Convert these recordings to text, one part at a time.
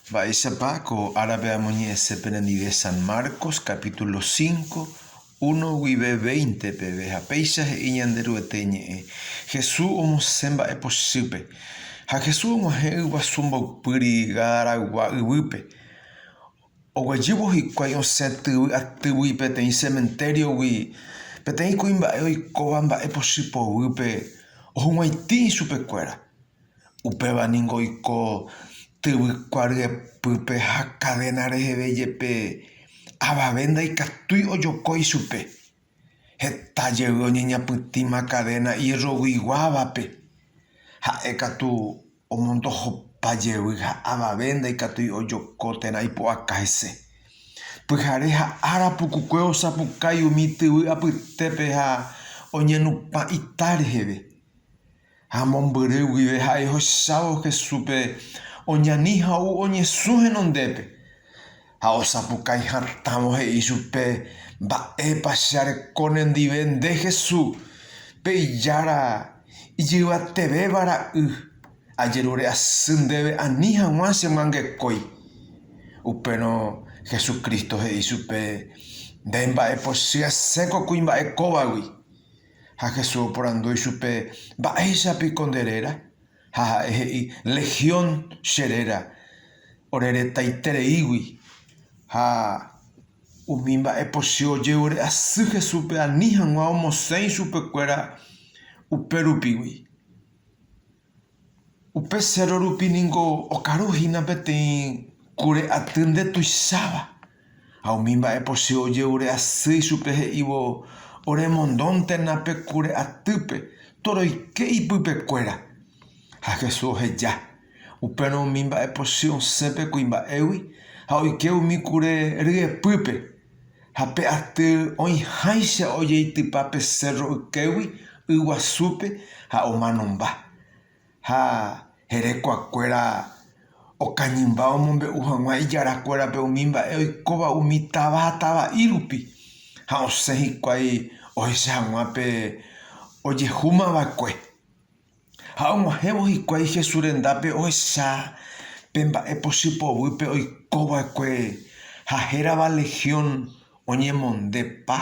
Mba'éichapa ko árape amoñe'ẽse penendive San Marcos capítulo cinco, uno guive veinte peve ha péicha he'i Ñanderuete ñe'ẽ Hesu omosẽ mba'e pochýpe. Ha Hesu og̃uahẽ yguasu mboypýri Gadaragua yvýpe. Oguejývo hikuái osẽ tyvy atýgui peteĩ sementériogui, peteĩ kuimba'e oikóva mba'e pochy poguýpe ohug̃uaitĩ ichupekuéra. Upéva ningo oiko tyvykua ryepýpe ha kadéna reheve jepe, avave ndaikatúi ojoko ichupe. Heta jey oñeñapytĩma kadéna ierroguiguávape, ha'e katu omondohopa jey ha avave ndaikatúi ojoko térã ipu'aka hese. Pyhare ha ára pukukue osapukái umi tyvy apytépe ha oñenupã ita reheve. Ha mombyry guive ha'e ohechávo Jesúspe oñani ha ou oñesũ henondépe. Ha osapukái hatãvo he'i chupe, Mba'épa che areko nendive nde Jesús, pe Ijára ijyvatevéva Ra'y, ajerure asy ndéve ani hag̃ua che myangekói. Upérõ Jesucristo he'i chupe, Nde mba'epochy asẽko kuimba'e kóvagui. Ha Jesús oporandu ichupe, Mba'éicha piko nde réra? Ha ha'e he'i, Legión che réra, ore retaitereígui. Ha umi mba'e pochy ojeguere asy Jesúspe ani hag̃ua omosẽ ichupe kuéra upe rupigui. Upe séro rupi ningo okaru hína peteĩ kure aty nde tuicháva, ha umi mba'epochy oje'ure asy ichupe he'ívo oremondóntena pe kure atýpe toroike ipypekuéra. Ha Jesús oheja. Upérõ umi mba'epochy osẽ pe kuimba'égui ha oike umi kure ryepýpe. Ha pe aty oĩháicha ojeitypa pe cérro ykégui yguasúpe ha omanomba. Ha herekuakuéra okañymba omombe'u hag̃ua ijarakuérape umi mba'e oikóva umi táva ha tava'i rupi, ha osẽ hikuái ohecha hag̃ua pe ojehúma va'ekue. Ha og̃uahẽvo hikuái Jesús rendápe ohecha pe mba'e pochy poguýpe oiko va'ekue ha hérava legión oñemonde pa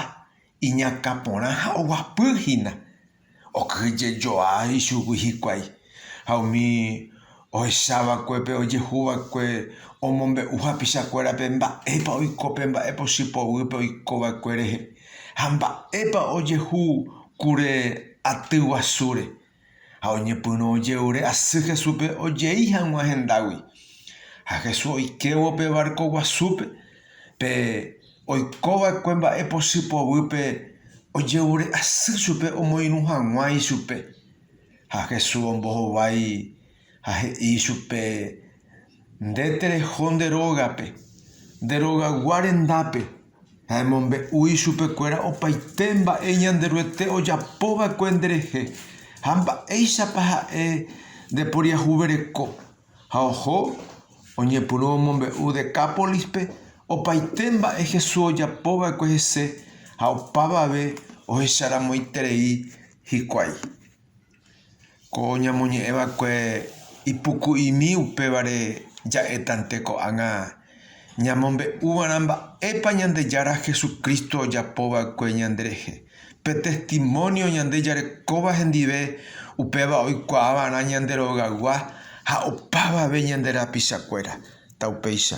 iñakã porã ha oguapy hína. Okyhyje joa ichugui hikuái ha umi ohechávakuépe ojehuva'ekue omombe'u hapichakuérape mba'épa oiko pe mba'e pochy poguýpe oikova'ekue rehe ha mba'épa ojehu kure aty guasúre. Ha oñepyrũ oje'ure asy Jesúspe ojei hag̃ua hendágui. Ha Jesús oikévo pe várko guasúpe, pe oikova'ekue mba'e pochy poguýpe oje'ure asy chupe omoirũ hag̃ua ichupe. Ha Jesús ombohovái ha he'i ichupe, Nde tereho nde rógape, nde rogagua rendápe. Ha emombe'u ichupe kuéra opaite mba'e Ñanderuete ojapo va'ekue nde rehe, ha mba'éichapa ha'e nde poriahuvereko. Ha oho oñepyrũ omombe'u Decápolispe opaite mba'e Jesús ojapo va'ekue hese ha opavave ohecharamoiterei Hikuái. Ko ñamoñe'ẽ va'ekue ipuku'imi upévare ja'étante ko'ág̃a ñamombe'úva'erã mba'épa Ñandejára Jesucristo ojapo va'ekue ñande rehe. Pe testimónio ñande jarekóva hendive upéva oikuaa va'erã ñande rogaygua ha opavave ñande rapichakuéra. Taupéicha.